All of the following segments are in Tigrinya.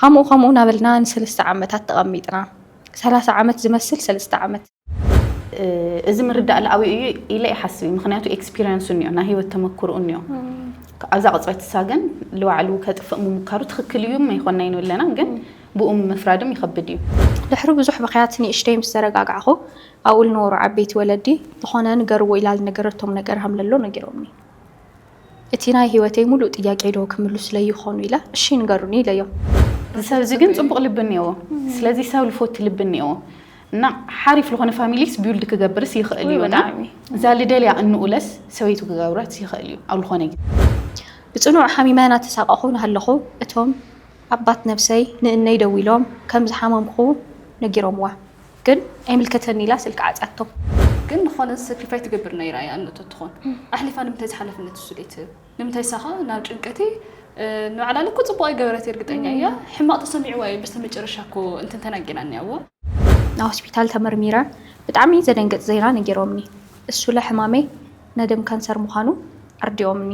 ኸምኡ ኸምኡ ናበልና ንሰለስተ ዓመታት ተቐሚጥና። ሰላሳ ዓመት ዝመስል ሰለስተ ዓመት። እዚ ምርዳእ ልኣዊ እዩ ኢለ ይሓስብ እዩ ምክንያቱ ኤክስፒርያንሱ እኒኦ ናይ ህይወት ተመክርኡ እኒኦ ኣብዛ ቅፅበት እሳ ግን ልባዕሉ ከጥፍእ ምሙካሩ ትክክል እዩ መይኮና ይኑ ኣለና ግን ብኡ ምፍራድም ይኸብድ እዩ። ድሕሪ ብዙሕ ብኽያት ንእሽተይ ምስ ተረጋጋዕኹ ኣብኡ ልነበሩ ዓበይቲ ወለዲ ዝኾነ ንገርዎ ኢላ ልነገረቶም ነገር ሃምለሎ ነጊሮምኒ። እቲ ናይ ህይወተይ ሙሉእ ጥያቄዶ ክምሉስለይ ይኾኑ ኢለ እሺ ንገሩኒ ኢለዮም። እዚ ሰብ እዚ ግን ጽቡቕ ልቢ እኔዎ ስለዚ ሰብ ልፎቲ ልቢ እኔዎ እና ሓሪፍ ልኾነ ፋሚሊስ ቢውልድ ክገብርስ ይኽእል እዩ እና እዛ ልደልያ እንኡለስ ሰበይቱ ክገብረስ ይኽእል እዩ ኣብ ልኾነ ግዜ። ብጽኑዕ ሓሚመ ናተሳቐኹ ናሃለኹ እቶም ኣባት ነብሰይ ንእነይ ደዊሎም ከም ዝሓመምኹ ነጊሮምዋ። ግን ኣይምልከተኒ ኢላ ስልኪ ዓጽያቶ። ግን ንኾነ ሰክሪፋይ ትገብር ነይራ እያ እኖ ተትኾን ኣሕሊፋ ንምንታይ እዚ ሓላፍነት ንሱ ዘይትህብ ንምንታይ እሳ ከ ናብ ጭንቀቲ ንባዕላ ልክዕ ጽቡቅ ኣይገበረት እርግጠኛ እያ ሕማቅ ተሰሚዕዋ እዩ በስተመጨረሻ እኮ እንትን ተናጊራ እኒኣዎ። ናብ ሆስፒታል ተመርሚረ ብጣዕሚ ዘደንግጽ ዜና ነጊሮምኒ እሱለ ሕማመይ ናይ ደም ካንሰር ምዃኑ ኣርዲኦምኒ።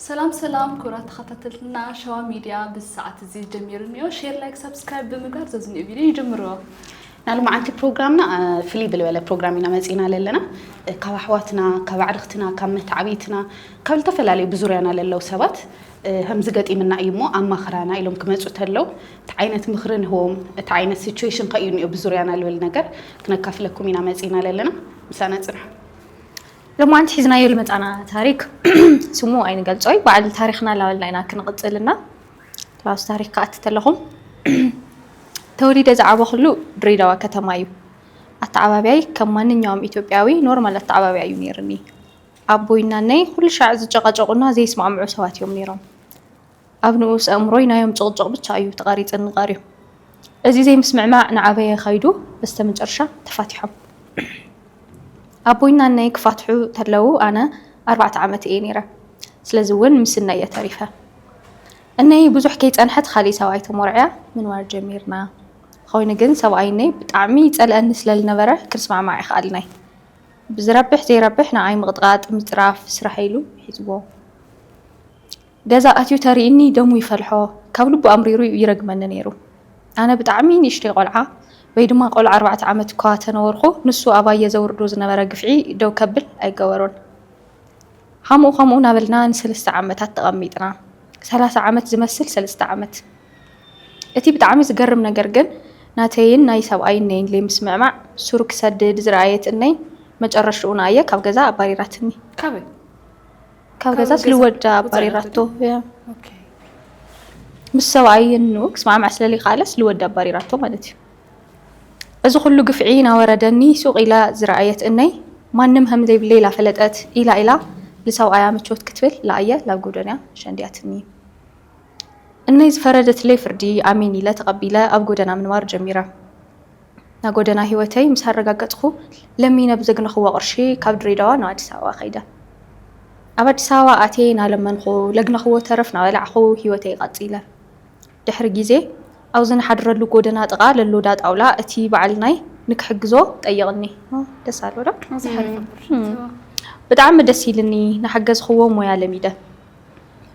ሰላም ሰላም ክብራት ተኸታተልትና ሸዋ ሚድያ ብዚ ሰዓት እዚ ጀሚሩ እንዮ ሼር ላይክ ሳብስክራይብ ብምግባር ዘዝንኡ ቪድዮ ይጅምርዎ። ናይ ሎማዓንቲ ፕሮግራምና ፍልይ ብልበለ ፕሮግራም ኢና መጺና ለለና ካብ ኣሕዋትና ካብ ኣዕርኽትና ካብ መታዓብይትና ካብ ልተፈላለዩ ብዙርያና ለለው ሰባት ከምዚ ገጢምና እዩ እሞ ኣማኽራና ኢሎም ክመጹ ተለው እቲ ዓይነት ምኽሪ ንህቦም እቲ ዓይነት ሲቹዌሽን ከእዩ እንዮ ብዙርያና ልብል ነገር ክነካፍለኩም ኢና መጺና ለለና ምሳና ጽንሑ ሎማዓንቲ ሒዝናዮ ልመፃና ታሪክ ስሙ ኣይንገልፆይ ባዓል ታሪክና ላበልና ኢና ክንቅፅል እና ኣብቲ ታሪክ ክኣቲ ተለኩም ተወሊደ ዝዓበክሉ ድሬዳዋ ከተማ እዩ ኣተዓባብያይ ከም ማንኛውም ኢትዮጵያዊ ኖርማል ኣተዓባብያ እዩ ነይርኒ ኣቦይ እና እነይ ኩልሻዕ ዝጨቃጨቁና ዘይስማዕምዑ ሰባት እዮም ነይሮም ኣብ ንኡስ ኣእምሮይ ናዮም ጭቕጭቕ ብቻ እዩ ተቓሪጽኒ ቐርዩ። እዚ ዘይምስምዕማዕ ንዓበየ ኸይዱ በስተመጨርሻ ተፋቲሖም። ኣቦይ ናነይ ክፋትሑ ተለው ኣነ ኣርባዕተ ዓመት እየ ነይረ ስለዚ ውን ምስነይ እየ ተሪፈ። እነይ ብዙሕ ከይጸንሐት ኻሊእ ሰብኣይ ተሞርዕያ ምንባር ጀሚርና። ኾይኑ ግን ሰብኣይ እነይ ብጣዕሚ ይጸልኣኒ ስለልነበረ ክንስማዕማዕ ኣይኸኣልናይ። ብዝረብሕ ዘይረብሕ ንዓይ ምቕጥቓጥ ምጽራፍ ስራሐይ ኢሉ ሒዝዎ። ገዛ ኣትዩ ተሪኢኒ ደሙ ይፈልሖ ካብ ልቡ ኣምሪሩ ዩ ይረግመኒ ነይሩ ኣነ ብጣዕሚ ንእሽተይ ቆልዓ ወይ ድማ ቆልዓ ኣርባዕተ ዓመት እኳ ተነበርኩ ንሱ ኣባየ ዘውርዶ ዝነበረ ግፍዒ ደው ከብል ኣይገበሮን ሀምኡ ከምኡ ናበልና ንሰለስተ ዓመታት ተቀሚጥና ሰላሳ ዓመት ዝመስል ሰለስተ ዓመት እቲ ብጣዕሚ ዝገርም ነገር ግን ናተይን ናይ ሰብኣይ እነይን ለይምስምዕማዕ ሱር ክሰድድ ዝረኣየት እነይ መጨረሽኡ ንኣየ ካብ ገዛ ኣባሪራትኒ። ካበይ? ካብ ገዛ ስልወዳ ኣባሪራቶ ምስ ሰብኣይ ን ክስማዕማዕ ስለለይከኣለ ስልወዳ ኣባሪራቶ ማለት እዩ እዚ ኩሉ ግፍዒ ናወረደኒ ሱቅ ኢላ ዝረኣየት እነይ ማንም ሀም ዘይብለይ ላፈለጠት ኢላ ኢላ ልሰብኣያ ምቾት ክትብል ላኣየ ላብ ጎደንያ ሸንዲያትኒ እነይ ዝፈረደትለይ ፍርዲ ኣሜን ኢለ ተቀቢለ ኣብ ጎደና ምንባር ጀሚረ። እታ ጎደና ህይወተይ ምስ ኣረጋገጽኩ፣ ለሚነ ብዘግነኽዎ ቅርሺ ካብ ድሬዳዋ ናብ ኣዲስ ኣበባ ከይደ። ኣብ ኣዲስ ኣበባ ኣትየ ናለመንኹ፣ ለግነኽዎ ተረፍ ናበላዕኹ ህይወተይ ቀጺለ። ድሕሪ ግዜ፣ ኣብዚ ንሓድረሉ ጎደና ጥቓ ለሎ ዳ ጣውላ እቲ በዓል ናይ ንክሕግዞ ጠይቕኒ። ደስ ኣሎ ዶ? ብጣዕሚ ደስ ኢልኒ፣ ናሓገዝኽዎ ሞያ ለሚደ።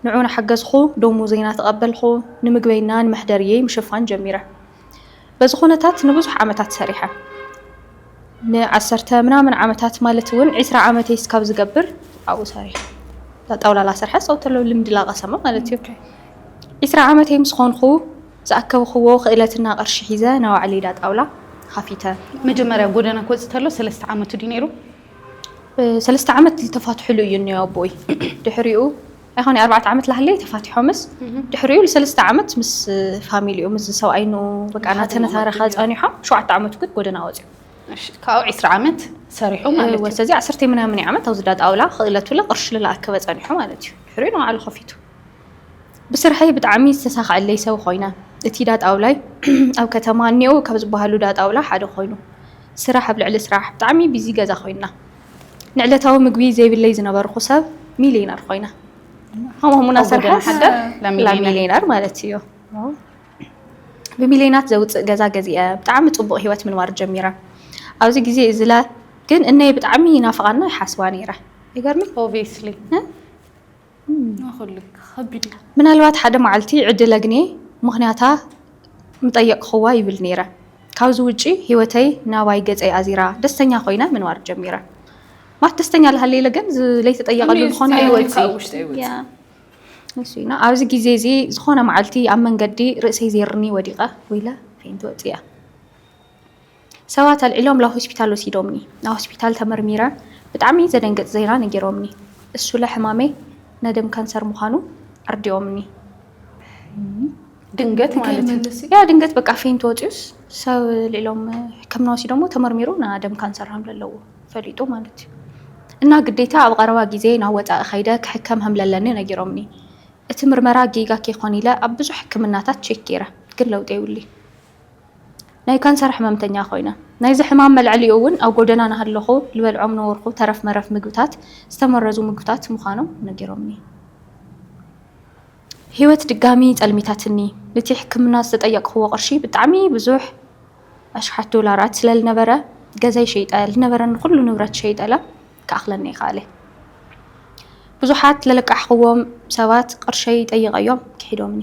ንዑ ናሓገዝኹ፣ ደሞዘይ ናተቐበልኩ፣ ንምግበይና ንመሕደርየይ ምሽፋን ጀሚረ። በዚ ኩነታት ንብዙሕ ዓመታት ሰሪሐ። ንዓሰርተ ምናምን ዓመታት ማለት እውን ዒስራ ዓመተይ እስካብ ዝገብር ኣብኡ ሰሪሐ። እዛ ጣውላ ላሰርሐ ሰው ተሎ ልምዲ ላቐሰመ ማለት እዩ። ዒስራ ዓመተይ ምስ ኾንኹ ዝኣከብኽዎ ክእለትና ቅርሺ ሒዘ ናይ ባዕለይ እዳ ጣውላ ኻፊተ። መጀመርያ ጎደና ክወፅእ ተሎ ሰለስተ ዓመቱ ድዩ ነይሩ? ሰለስተ ዓመት ዝተፋትሕሉ እዩ እኒኦ ኣቦይ። ድሕሪኡ ኣይኮን ኣርባዕተ ዓመት ላህለይ ተፋቲሖምስ ድሕሪኡ ንሰለስተ ዓመት ምስ ፋሚሊኡ ምስ ሰብኣይ ን በቃ እናተነታረኻ ጸኒሖም ሸውዓተ ዓመቱ ግን ጎደና ወጺኡ ካብኡ ዕስራ ዓመት ሰሪሑ ማለት እዩ ስለዚ ዓሰርተ ምናምን ዓመት ኣብዚ እንዳ ጣውላ ክእለቱለ ቅርሺ ልላኣከበ ጸኒሑ ማለት እዩ ድሕሪኡ ንባዕሉ ከፊቱ ብስርሐይ ብጣዕሚ ዝተሳኸዐለይ ሰብ ኮይነ እቲ እንዳ ጣውላይ ኣብ ከተማ እኒኦው ካብ ዝበሃሉ እንዳ ጣውላ ሓደ ኮይኑ ስራሕ ኣብ ልዕሊ ስራሕ ብጣዕሚ ቢዚ ገዛ ኮይንና ንዕለታዊ ምግቢ ዘይብለይ ዝነበርኹ ሰብ ሚልየነር ኾይነ። ከምኡ ሙና ሰርሐስ ሚልየነር ማለት እዩ። ብሚልየናት ዘውፅእ ገዛ ገዚአ ብጣዕሚ ፅቡቕ ህይወት ምንባር ጀሚረ። ኣብዚ ግዜ እዝለ ግን እነይ ብጣዕሚ ይናፍቓና ይሓስባ ነይረ። ይገርምይ። ምናልባት ሓደ መዓልቲ ዕድል ኣግንየ ምኽንያታ ምጠየቕክዋ ይብል ነይረ። ካብዚ ውጪ ህይወተይ ናባይ ገጸይ ኣዚራ ደስተኛ ኮይነ ምንባር ጀሚረ። ማለት ደስተኛ ልሃልይ ኢለ ግን ለይተጠየቐሉ ዝኾነ ህይወትይና ኣብዚ ግዜ እዚ ዝኾነ መዓልቲ ኣብ መንገዲ ርእሰይ ዜርኒ ወዲቐ ወይለ ፌንቲ ወጽያ። ሰባት ኣልዒሎም ላብ ሆስፒታል ወሲዶምኒ ናብ ሆስፒታል ተመርሚረ ብጣዕሚ ዘደንግፅ ዜና ነጊሮምኒ እሱለ ሕማመይ ናደም ካንሰር ምዃኑ ኣርዲኦምኒ ድንገት ማለት እዩ ያ ድንገት በቃ ፌንት ወፂኡስ ሰብ ልዒሎም ሕክምና ወሲዶሞ ተመርሚሩ ናደም ካንሰር ሃምለለዎ ፈሊጡ ማለት እዩ እና ግዴታ ኣብ ቐረባ ጊዜ ናብ ወፃኢ ከይደ ክሕከም ሃምለለኒ ነጊሮምኒ እቲ ምርመራ ጌጋ ከይኮን ኢለ ኣብ ብዙሕ ሕክምናታት ቼክ ገይረ ግን ለውጢ የብሉይ። ናይ ካንሰር ሕመምተኛ ኮይነ። ናይዚ ሕማም መልዐሊኡ እውን ኣብ ጎደና ናሃለኹ ልበልዖም ነበርኹ ተረፍ መረፍ ምግብታት፣ ዝተመረዙ ምግብታት ምዃኖም ነጊሮምኒ። ህይወት ድጋሚ ጸልሚታትኒ። ንቲ ሕክምና ዝተጠየቅኽዎ ቅርሺ ብጣዕሚ ብዙሕ ኣሽሓት ዶላራት ስለልነበረ ገዛይ ሸይጠ ልነበረኒ ኩሉ ንብረት ሸይጠለ ክኣኽለኒ ኣይኸኣለ። ብዙሓት ለለቃሕኽዎም ሰባት ቅርሸይ ጠይቀዮም ክሒዶምኒ።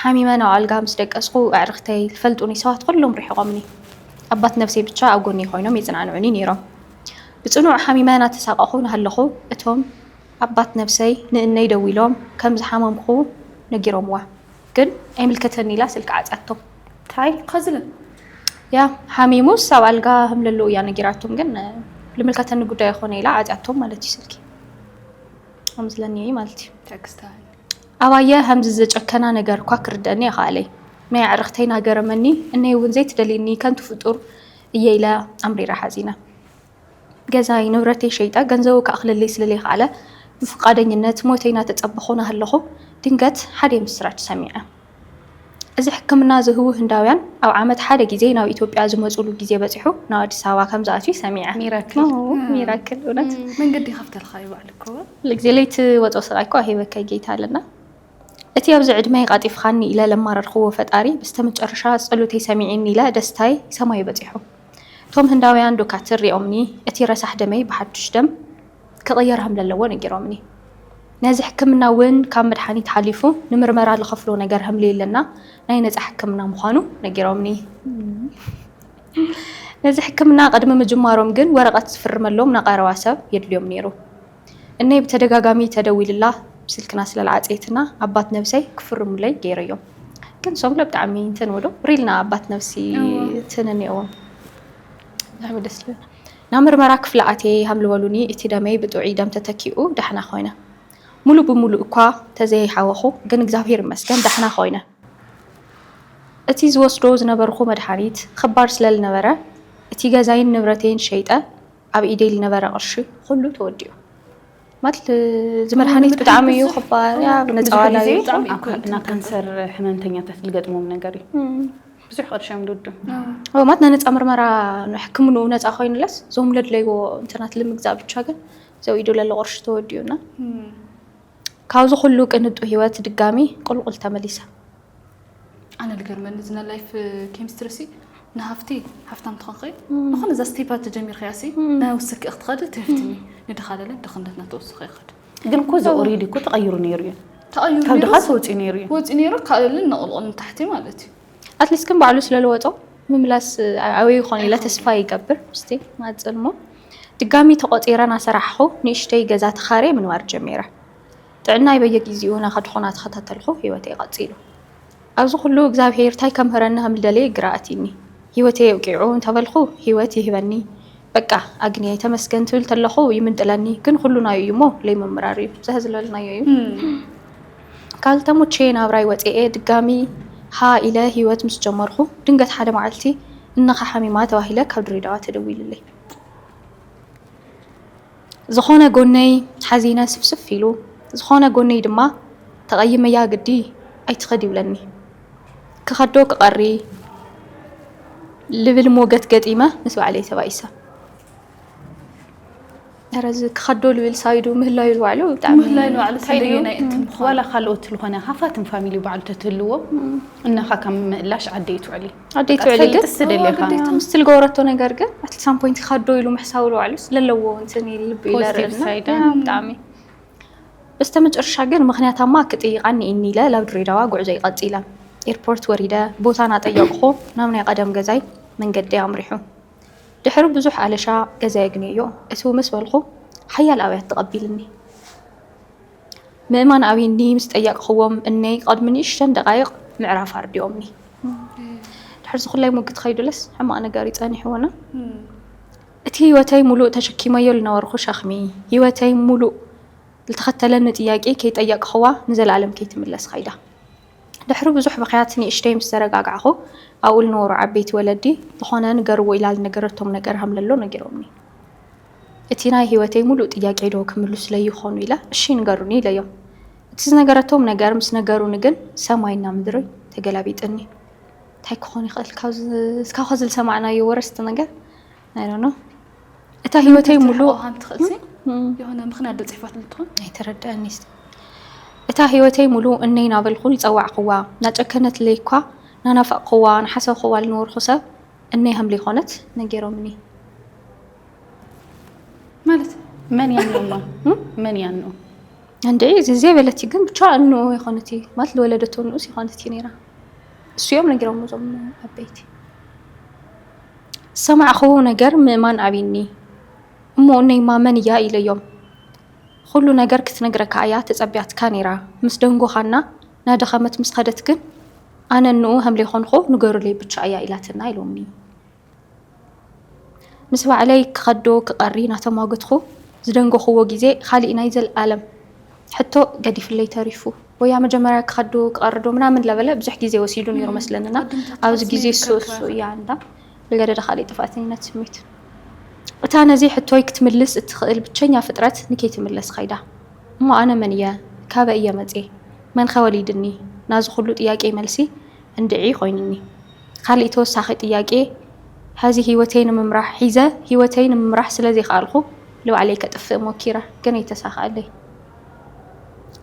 ሓሚመ ናብ ኣልጋ ምስ ደቀስኩ፣ ኣዕርኽተይ፣ ልፈልጡኒ ሰባት ኹሎም ርሒቖምኒ። ኣባት ነብሰይ ብቻ ኣብ ጎኒይ ኾይኖም የጽናንዑኒ ነይሮም። ብጽኑዕ ሓሚመ እናተሳቐኹ እናሃለኹ፣ እቶም ኣባት ነብሰይ ንእነይ ደዊሎም ከም ዝሓመምኩ ነጊሮምዋ። ግን ኣይምልከተኒ ኢላ ስልኪ ዓጽያቶም። ታይ ኸዝን እያ ሓሚሙስ ኣብ ኣልጋ ሀምለሎ እያ ነጊራቶም ግን ልምልከተኒ ጉዳይ ኣይኾነ ኢላ ዓጽያቶም ማለት እዩ ስልኪ። ኣምስለኒ እይ ማለት እዩ። ተክስታል። ኣባየ ሀምዚ ዘጨከና ነገር እኳ ክርደእኒ ኣይኸኣለይ። ናይ ኣዕርኽተይ ናገረመኒ እነይ እውን ዘይትደልየኒ ከንቱ ፍጡር እየ ኢለ ኣምሪረ ሓዚነ። ገዛይ ንብረተይ ሸይጠ ገንዘቡ ክኣኽለለይ ስለለይኸኣለ ብፍቃደኝነት ሞተይ ናተፀበኹ ናሀለኹ ድንገት ሓደይ ምስራች ሰሚዐ። እዚ ሕክምና ዝህቡ ህንዳውያን ኣብ ዓመት ሓደ ግዜ ናብ ኢትዮጵያ ዝመፁሉ ግዜ በፂሑ ናብ ኣዲስ ኣበባ ከምዝኣትዩ ሰሚዐ። ሚራክል እውነት። መንገዲ ይኸፍተልኻ እዩ ባዕሉ እኮ። ሁልጊዜ ለይትወጾ ስቓይ እኮ ኣይሂበካይ ጌታ ኣለና። እቲ ኣብዚ ዕድመይ ቓጢፍኻኒ ኢለ ለማረርክዎ ፈጣሪ ብስተመጨረሻ ጸሎተይ ሰሚዒኒ ኢለ ደስታይ ሰማዩ በጺሑ። እቶም ህንዳውያን ዶካትር ሪኦምኒ እቲ ረሳሕ ደመይ ብሓዱሽ ደም ክቕየር ሀምለለዎ ነጊሮምኒ። ነዚ ሕክምና እውን ካብ መድሓኒት ሓሊፉ ንምርመራ ልኸፍሎ ነገር ሀምልየለና ናይ ነፃ ሕክምና ምዃኑ ነጊሮምኒ። ነዚ ሕክምና ቅድሚ ምጅማሮም ግን ወረቐት ዝፍርመሎም ናቐረባ ሰብ የድልዮም ነይሩ። እነይ ብተደጋጋሚ ተደዊልላ ስልክና ስለልዓፀየትና ኣባት ነብሰይ ክፍርሙለይ ገይረዮም። ግን ሶም ለ ብጣዕሚ እንትን እብሉ ሪልና ኣባት ነብሲ ትንንየዎም። ብጣዕሚ ደስ ልብል። ናብ ምርመራ ክፍሊ ኣትየ ይሃሉ በሉኒ እቲ ደመይ ብጥዑይ ደም ተተኪኡ ዳሕና ኮይነ ሙሉ ብሙሉ እኳ ተዘይሃወኹ ግን እግዚኣብሔር ይመስገን ዳሕና ኮይነ እቲ ዝወስዶ ዝነበርኹ መድሓኒት ኽባር ስለልነበረ እቲ ገዛይን ንብረተይን ሸይጠ ኣብ ኢደይ ልነበረ ቅርሺ ኹሉ ተወዲኡ። ማለት እዚ መድሃኒት ብጣዕሚ እዩ ክባር እያ ነፃዋላ እዩ እና ካንሰር ሕመምተኛታት ዝገጥሞም ነገር እዩ ብዙሕ ቅርሺ እዮም ድዱ ማለት ናይ ነፃ ምርመራ ሕክምኑ ነፃ ኮይኑለስ እዞም ለድለይዎ እንትናት ልምግዛእ ብቻ ግን ዘው ኢዱ ለለ ቅርሺ ተወዲኡና ካብዚ ኩሉ ቅንጡ ህይወት ድጋሚ ቁልቁል ተመሊሳ ኣነ ዝገርመኒ እዚ ናይ ላይፍ ኬሚስትሪ ሲ ንሃፍቲ ሃፍታም ትኾንኺ ንኾነ እዛ ስቴፓ ተጀሚርካያ ሲ ናይ ውስኪ ክትኸዲ ትህፍትኒ ንድኻለለ ድኽነትና ተወስኺ ይኸድ ግን እኮ እዚ ኦሬዲ እኮ ተቐይሩ ነይሩ እዩ ተቐይሩ ካብ ድኻስ ወፂኡ ነይሩ እዩ ወፂኡ ነይሩ ካልልን ነቕልቕል ንታሕቲ ማለት እዩ ኣትሊስት ግን ባዕሉ ስለለወጦ ምምላስ ኣበይ ይኾን ኢለ ተስፋ ይገብር ምስቲ ማፅልሞ ድጋሚ ተቆፂረ ናሰራሕኹ ንእሽተይ ገዛ ተኻርየ ምንባር ጀሚረ ጥዕናይ በየጊዚኡ ናኻድኩ ናተኸታተልኩ ሂወተይ ቀጺሉ ኣብዚ ኩሉ እግዛብሄር ታይ ከምህረኒ ከምልደለየ ግራ ኣትይኒ ሂወተይ ኣብቂዑ እንተበልኩ ሂወት ይህበኒ በቃ ኣግንየ ተመስገን ትብል ተለኩ ይምንጥለኒ ግን ኩሉ ናዩ እዩሞ ለይምምራር እዩ ዘህዝለልናዮ እዩ ካል ተሙቼ ናብራይ ወጼኤ ድጋሚ ሃ ኢለ ሂወት ምስ ጀመርኩ ድንገት ሓደ ማዓልቲ እንኻ ሓሚማ ተባሂለ ካብ ድሬዳዋ ተደዊልለይ። ዝኾነ ጎነይ ሓዚነ ስፍስፍ ኢሉ፣ ዝኾነ ጎነይ ድማ ተቐይመያ ግዲ ኣይትኸድ ይብለኒ። ክኸዶ ክቐሪ ልብል ሞገት ገጢመ ምስ ባዕለይ ተባኢሰ። ኧረ እዚ ክኸዶ ልብል ሳይዱ ምህላዩ ንባዕሉ ብጣዕሚ ምህላዩ ንባዕሉ ስንደየናይ እቲ ምዃኑ ዋላ ካልኦት ዝኾነ ሃፋትም ፋሚሊ ባዕሉ ተትህልዎ እናኻ ካብ ምእላሽ ዓደይ ትውዕሊ ኣደይ ትውዕሊ ግን ግዴታ ምስቲ ዝገበረቶ ነገር ግን ኣቲ ሳም ፖይንት ካዶ ኢሉ ምሕሳቡ ልባዕሉ ስለለዎ እንትን ልቢ ኢለርእናብጣዕሚ በስተ መጨረሻ ግን ምክንያታማ ክጥይቃኒ እኒ ኢለ ላብ ድሬዳዋ ጉዕዞ ይቐፂለ ኤርፖርት ወሪደ ቦታ ናጠየቕኹ ናብ ናይ ቀደም ገዛይ መንገዲ ኣምሪሑ ድሕሪ ብዙሕ ኣለሻ ገዛ የግንዮ እቲው ምስ በልኹ ሓያል ኣብያት ተቐቢልኒ ምእማን ኣብይኒ ምስ ጠየቕኽዎም እነይ ቐድሚ ንእሽተን ደቓይቕ ምዕራፍ ኣርዲኦምኒ። ድሕሪ ዝኹላይ ሙግት ኸይዱለስ ሕማቕ ነገር እዩ ጸኒሕዎና። እቲ ህይወተይ ሙሉእ ተሸኪመዮ ልነበርኹ ሸኽሚ፣ ህይወተይ ሙሉእ ልተኸተለኒ ጥያቄ ከይጠየቕኽዋ ንዘለኣለም ከይትምለስ ኸይዳ። ድሕሪ ብዙሕ ብኽያት ንእሽተይ ምስ ተረጋጋዕኹ ኣብኡ ልነበሩ ዓበይቲ ወለዲ ዝኾነ ንገርዎ ኢላ ልነገረቶም ነገር ሃምለሎ ነጊሮምኒ። እቲ ናይ ህይወተይ ምሉእ ጥያቄዶ ክምልሱለይ ይኾኑ ኢለ፣ እሺ ንገሩኒ ኢለዮም። እቲ ዝነገረቶም ነገር ምስ ነገሩኒ ግን ሰማይና ምድሪ ተገላቢጥኒ። እንታይ ክኾን ይኽእል እስካብ ኸዚ ዝሰማዕናዮ ወረ ዝተነገር ኣይ ዶንት ኖው እታ ህይወተይ ምሉእ የሆነ ምኽንያት ዶ ፅሕፋት ልትኾን ኣይተረድኣኒ እታ ህይወተይ ምሉእ እነይ ናበልኩ ይፀዋዕኹዋ ናጨከነትለይ እኳ ናናፈቕኹዋ ንሓሰብኹዋ ልነበርኹ ሰብ እነይ ሃምለይኮነት ነጌሮምኒ ማለት መን ያነውማ መን ያነው እንደ እዚ በለቲ ግን ብቻ እኖ የኾነት ማለት ለወለደቶ ንኡስ የኾነት ነራ እሱ እዮም ነጊሮም ዞም ኣበይቲ ሰማዕኹ ነገር ምእማን ኣብኒ እሞ እነይማ መን እያ ኢለዮም ኩሉ ነገር ክትነግረካ እያ ተጸቢያትካ ነራ ምስ ደንጎኻና ናደኸመት ምስ ኸደት ግን ኣነ እንኡ ሃምለይኮንኹ ንገሩለይ ብቻ እያ ኢላትና ኢሎምኒ ምስ ባዕለይ ክኸዶ ክቐሪ ናተማጎትኹ ዝደንጎኹዎ ግዜ ኻሊእ ናይ ዘልኣለም ሕቶ ገዲፍለይ ተሪፉ። ወያ መጀመርያ ክኸዶ ክቐርዶ ምናምን ለበለ ብዙሕ ግዜ ወሲዱ ነይሩ መስለኒ እና ኣብዚ ግዜ ሶሶ እያ እንዳ ልገደደ ኻሊእ ጥፍኣተኝነት ስሜት እታ ነዚ ሕቶይ ክትምልስ እትኽእል ብቸኛ ፍጥረት ንከይትምለስ ኸይዳ። እሞ ኣነ መን እየ? ካበይ እየ መጽየ? መንኸ ወሊድኒ? ናዚ ኹሉ ጥያቄይ መልሲ እንድዒ ኾይኑኒ። ካሊእ ተወሳኺ ጥያቄ ሐዚ ሂወተይ ንምምራሕ ሒዘ ሂወተይ ንምምራሕ ስለ ዘይከኣልኹ ልባዕለይ ከጥፍእ ሞኪረ ግን ኣይተሳከኣለይ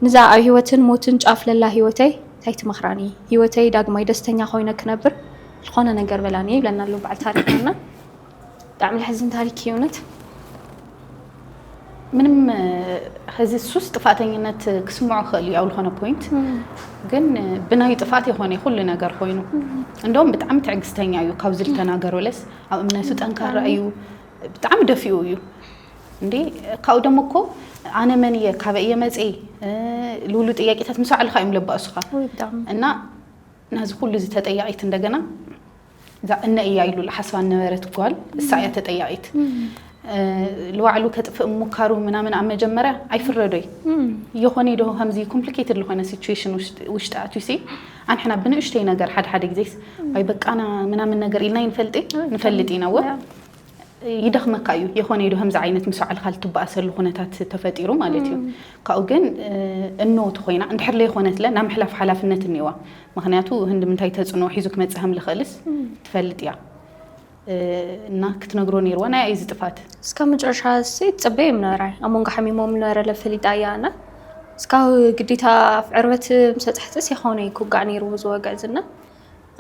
ንዛ ኣብ ሂወትን ሞትን ጫፍ ለላ ሂወተይ ታይ ትመኽራኒ ሂወተይ ዳግማይ ደስተኛ ኮይነ ክነብር ልኾነ ነገር በላኒ ይብለና ኣሎ ባዓል ታሪኽና እና ብጣዕሚ ዘሕዝን ታሪክ እዩ እውነት ምንም ሕዚ ሱስ ጥፋተኝነት ክስምዖ ክእል እዩ ኣብ ዝኾነ ፖይንት ግን ብናዩ ጥፍኣት የኾነ ኩሉ ነገር ኮይኑ እንደውም ብጣዕሚ ትዕግስተኛ እዩ ካብዚ ዝተናገረለስ ኣብ እምነቱ ጠንካራ እዩ ብጣዕሚ ደፊኡ እዩ እንዴ ካብኡ ደሞ እኮ ኣነ መን እየ ካበይ እየ መፅ ልብሉ ጥያቄታት ምስ ባዕልካ እዮም ለባእሱኻ እና ናዚ ኩሉ እዚ ተጠያቂት እንደገና እዛ እነ እያ ኢሉ ልሓስባ ነበረት ጓል እሳ እያ ተጠያቂት ልባዕሉ ከጥፍእ ሙካሩ ምናምን ኣብ መጀመርያ ኣይፍረዶይ የኾነ ዶ ከምዚ ኮምፕሊኬትድ ዝኾነ ሲቹዌሽን ውሽጢ ኣትዩሲ ኣንሕና ብንእሽተይ ነገር ሓደ ሓደ ግዜስ ወይ በቃና ምናምን ነገር ኢልና ይንፈልጢ ንፈልጥ ኢና ወ ይደኽመካ እዩ የኾነ ኢሉ ከምዚ ዓይነት ምስ ባዕልካ ልትበኣሰሉ ኩነታት ተፈጢሩ ማለት እዩ ካብኡ ግን እኖ ተኾይና እንድሕር ለይኾነትለ ናብ ምሕላፍ ሓላፍነት እኒዋ ምክንያቱ ህንዲ ምንታይ ተፅዕኖ ሒዙ ክመፅእ ከም ልኽእልስ ትፈልጥ እያ እና ክትነግሮ ነይርዋ ናይ ኣይዚ ጥፋት እስካብ መጨረሻ ሲ ትፅበየ ምነበራ ኣብ መንጎ ሓሚሞም ነበረለ ፈሊጣ እያ እና እስካብ ግዴታ ኣብ ዕርበት ምሰጥሕትስ የኾነ ኩጋዕ ነይርዎ ዝወግዕ ዝና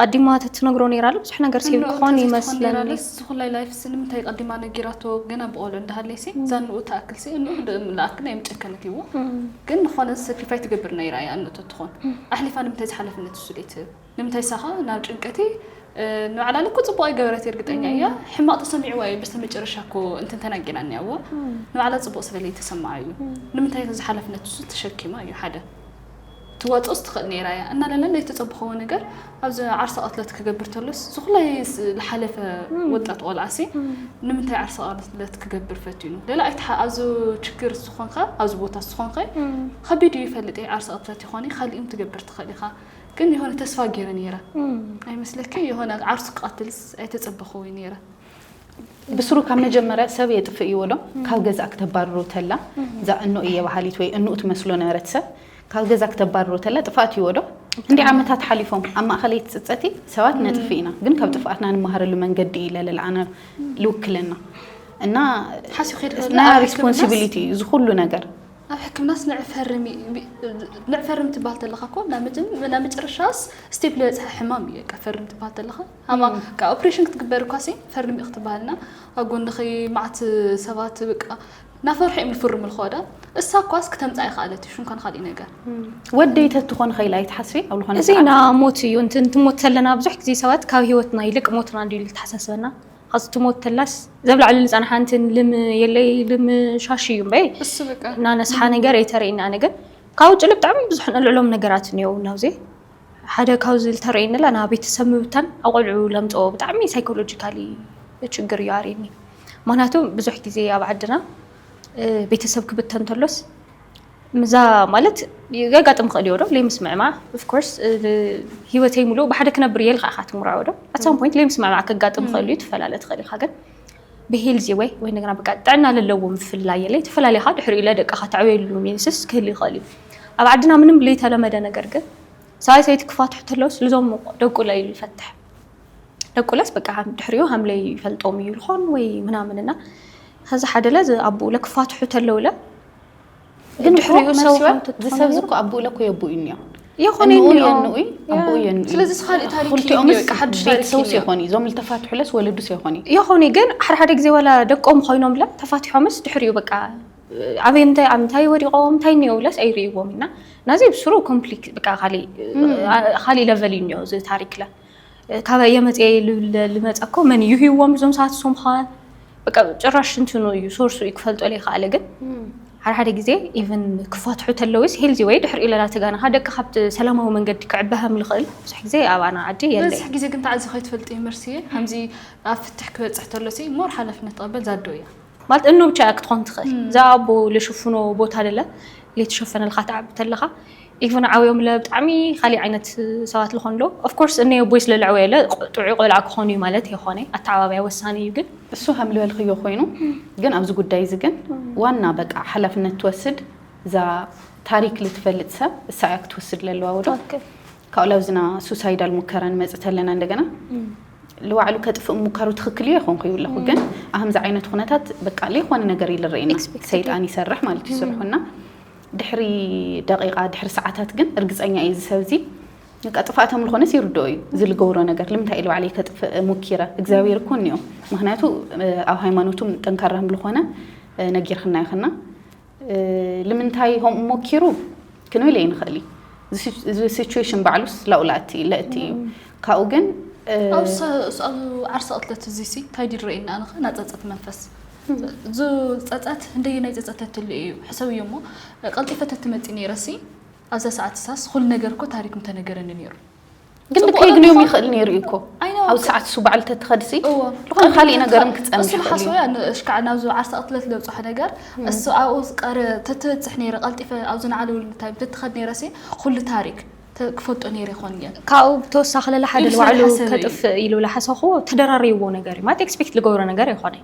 ቐዲማ ተትነግሮ ነይራለ ብዙሕ ነገር ሴቭ ክኾን ይመስለኒ። ዝኹላይ ላይፍስ ንምንታይ ቐዲማ ነጊራቶ ገና ብቆልዑ እንዳሃለይሲ እዛ ንኡ ትኣክልሲ እንኡ ንኣክል ናይ ምጨከነት እዩዎ ግን ንኾነ ሰክሪፋይ ትገብር ነይራ እያ እንኡ ተትኾን ኣሕሊፋ ንምንታይ ዝሓለፍነት እሱ ደይትህብ ንምንታይ ሳኻ ናብ ጭንቀቲ ንባዕላለ እኮ ፅቡቅ ኣይገበረት እርግጠኛ እያ ሕማቅ ተሰሚዕዋ እዩ በስተ መጨረሻ እኮ እንትን ተናጊራ እኒኣዎ ንባዕላ ፅቡቅ ስለለይ ተሰማዓ እዩ ንምንታይ ዝሓለፍነት እሱ ተሸኪማ እዩ ሓደ ትዋጽኦስ ትኽእል ነይራ እያ እናለለ ለይተጸብኸዎ ነገር ኣብዚ ዓርሰ ቐትለት ክገብር ተሎስ ዝኹላይ ዝሓለፈ ወጣት ቆልዓሲ ንምንታይ ዓርሰ ቐትለት ክገብር ፈቲኑ ለለ ኣይትሓ ኣብዚ ችግር ዝኾንከ ኣብዚ ቦታ ዝኾንከ ከቢድ እዩ ይፈልጥ እየ ዓርሰ ቐትለት ይኾን ካልእም ትገብር ትኽእል ኢኻ ግን የሆነ ተስፋ ገይረ ነይረ ኣይመስለኪ የሆነ ዓርሱ ክቐትልስ ኣይተጸበኸዎ ነይረ ብስሩ ካብ መጀመርያ ሰብ የጥፍእ እዩዎ ዶ ካብ ገዛ ክተባርሮ ተላ እዛ እኖ እየ በሃሊት ወይ እኖኡ ትመስሎ ነበረት ሰብ ካብ ገዛ ክተባርሮ ተላ ጥፍኣት እዩዎ ዶ እንዲ ዓመታት ሓሊፎም ኣብ ማእኸለይ ትፅፀቲ ሰባት ነጥፍእ ኢና ግን ካብ ጥፍኣትና ንመሃረሉ መንገዲ እዩ ለለልዓና ልውክለና እና ናይ ሪስፖንሲቢሊቲ እዩ እዚ ኩሉ ነገር ኣብ ሕክምናስ ንዕፈርም ንዕፈርም ትበሃል ተለኻ እኮ ናብ መጨረሻስ ስቴፕ ዝበፅሐ ሕማም እዩ በቃ ፈርም ትበሃል ተለኻ ሃማ ቃ ኦፕሬሽን ክትግበር እኳሲ ፈርሚ ክትበሃል እና ኣብ ጎንኺ መዓት ሰባት ብቃ ናፈርሑ እዮም ዝፍርሙ ልኸወዳ እሳ እኳስ ክተምፃ ይኸኣለት እዩ ሽንኳን ኻሊእ ነገር ወደይ ተትኾን ኸኢላ ኣይትሓስቢ ኣብ ዝኾነ እዚ ና ሞት እዩ እንት እንትሞት ተለና ብዙሕ ግዜ ሰባት ካብ ሂወትና ይልቅ ሞትና እንድዩ ልተሓሳስበና ኸዚ ትሞት ተላስ ዘብላዕሉ ልፀናሓ እንት ልም የለይ ልም ሻሽ እዩ እምበይ እሱ ብቃ እና ነስሓ ነገር ኣይተርእና ኣነ ግን ካብ ውጭ ልብጣዕሚ ብዙሕ ንልዕሎም ነገራት እኒው ናብዚ ሓደ ካብዚ ዝተረየኒ ላ ናብ ቤተሰብ ምብታን ኣብ ቆልዑ ለምፀኦ ብጣዕሚ ሳይኮሎጂካሊ ችግር እዩ ኣርእኒ ምክንያቱ ብዙሕ ግዜ ኣብ ዓድና ቤተሰብ ክብተን ተሎስ ምዛ ማለት የጋጥም ክእል እዮ ዶ ለይምስምዕማዕ ኦፍኮርስ ሂወተይ ሙሉእ ብሓደ ክነብር እየ ኢልካ ኢካ ትምርዐወ ዶ ኣት ሳም ፖይንት ለይምስምዕማዕ ከጋጥም ክእል እዩ ትፈላለ ትክእል ኢካ ግን ብሄልዚ ወይ ወይ እንደገና በቃ ጥዕና ለለዎ ምፍልላይ የለ ተፈላሊኻ ድሕሪኡ ለደቅኻ ተዕበየሉ ሚንስስ ክህሉ ይኽእል እዩ ኣብ ዓድና ምንም ለይተለመደ ነገር ግን ሰብኣይ ሰበይቲ ክፋትሑ ተለውስ ልዞም ደቁ ለዩ ይፈትሕ ደቁ ለስ በቃ ድሕሪኡ ሃምለይ ይፈልጦም እዩ ልኾን ወይ ምናምን እና ከዚ ሓደ ለ ኣብኡ ለክፋትሑ ተለውለ ግን ድሕሪኡ ሰብ ከምቲ ዝሰብ ዝኮ ኣቦኡ ለኮ የቦኡ እኒኦ ይኹን እንኡ እኒኦ። የንኡይ ኣቦኡ ያ። የንኡይ ስለዚ እዚ ካልእ ታሪክ እዩ ክልቲኦምስ እኒኦ፣ ሓድሽ ታሪክ ቤተሰብስ እዩ እኒኦ። ይኾን እዩ እዞም ዝተፋትሑለስ ወለዱስ ይኾን እዩ ይኹን እዩ ግን ሓደ ሓደ ግዜ ዋላ ደቆም ኮይኖምለ ተፋቲሖምስ ድሕሪኡ በቃ ኣበይ እንታይ ኣብ እንታይ ወዲቖም እንታይ እኒኦውለስ ኣይርእይዎም እና ናዚ ብስሩ ኮምፕሊክ በቃ ካሊእ ካሊእ ለቨል እዩ እኒኦ እዚ ታሪክለ ካበይ እየ መፅየ ልብል ልመፀ እኮ መን እዩ ሂዎም እዞም ሰባት እሶም ኸዋን በቃ ጭራሽ እንትኑ እዩ ሶርሱ እዩ ክፈልጦ ዘይከኣለ ግን ሓደ ሓደ ግዜ ኢቨን ክፈትሑ ተለውስ ሄልዚ ወይ ድሕሪ ኢለላ ተጋናኻ ደቂ ካብቲ ሰላማዊ መንገዲ ክዕበሃም ልኽእል ብዙሕ ግዜ ኣባና ዓዲ የለ በዝሕ ግዜ ግን ተዓዚ ከይትፈልጥ እዩ መርስየ ከምዚ ኣብ ፍትሕ ክበፅሕ ተሎሲ ሞር ሓላፍነት ትቐበል ዛዶ እያ ማለት እኖ ብቻ እያ ክትኾን ትኽእል እዛ ኣቦ ለሽፍኖ ቦታ ለለ ለይተሸፈነልካ ትዓቢ ተለኻ ኢቭን ዓብዮም ለ ብጣዕሚ ካሊእ ዓይነት ሰባት ልኾኑ ሎ ኦፍኮርስ እነይ ኣቦይ ስለለዕወየ ለ ጥዑይ ቆልዓ ክኾኑ እዩ ማለት የኾነ ኣተዓባብያ ወሳኒ እዩ ግን እሱ ከም ልበልክዮ ኮይኑ ግን ኣብዚ ጉዳይ እዚ ግን ዋና በቃ ሓላፍነት ትወስድ እዛ ታሪክ ልትፈልጥ ሰብ እሳ እያ ክትወስድ ለለዋ ወዶ ካብኡ ላብዝና ሱሳይዳል ሙከራ ንመጽእ ተለና እንደገና ልዋዕሉ ከጥፍእ ሙካሩ ትክክል እዩ ኣይኮንኩ ይብለኹ ግን ኣህምዚ ዓይነት ኩነታት በቃ ለይኮነ ነገር እዩ ልረኤና Expected ሰይጣን ይሰርሕ ማለት እዩ ስርሑና ድሕሪ ደቂቃ ድሕሪ ሰዓታት ግን እርግፀኛ እዩ እዚ ሰብዚ በቃ ጥፍኣት ኣምልኾነስ ይርድኦ እዩ እዚ ልገብሮ ነገር ልምንታይ እዩ ልባዕለይ ከጥፍእ ሙኪረ እግዚኣብሔር እኮ እኒኦ ምክንያቱ እ፣ ኣብ ሃይማኖቱም ጠንካራ ምልኾነ እ፣ ነጊርክና ይኽና ልምንታይ ሆምኡ ሞኪሩ ክንብል ኣይንኽእል እዚ ሲቹዌሽን ባዕሉስ ላኡላእቲ ለእቲ እዩ ካብኡ ግን ኣብ ዓርሰ ቅትለት እዚ ሲ እንታይ ድዩ ዝረእየና ኣነኸ ናይ ፀፀት መንፈስ እዚ ፀፀት እንደየናይ ፀፀት ተትሉ እዩ ሕሰብ እዩ እሞ ቀልጢፈ ተትመፂ ነይረሲ ኣብዛ ሰዓት ሳስ ኩሉ ነገር እኮ ታሪክ ምተነገረኒ ነይሩ ግን ጽቡቕ ከይግንዮም ንምዃን- ይኽእል ነይሩ እዩ እኮ ኣይነ ኣብ ሰዓት እሱ በዓል ተትኸድሲ እዎ ዝኾነ ካልእ ነገርም ክትጸንሕ እሱ ይኽእል ሓስቦ እዩ እያ ንእሽካዕ ናብዚ ዓርሰ ቅትለት ለብፅሖ ነገር እሱ ኣብኡ ዝቀረ ተትበፅሕ ነይረ ቀልጢፈ ኣብዚ ንዓለውሉ እንታይ ተትኸድ ነይረሲ ኩሉ ታሪክ ተ- ክፈልጦ ነይረ ይኾን እየ ካብኡ ብተወሳኺ ለለ ሓደ ኢሉ ንባዕሉ ስለዝሓሰበ እዩ። ከጥፍእ ኢሉ ዝሓሰኹ ተደራሪብዎ ነገር እዩ ማለት ኤክስፔክት ዝገብሮ ነገር ኣይኮነን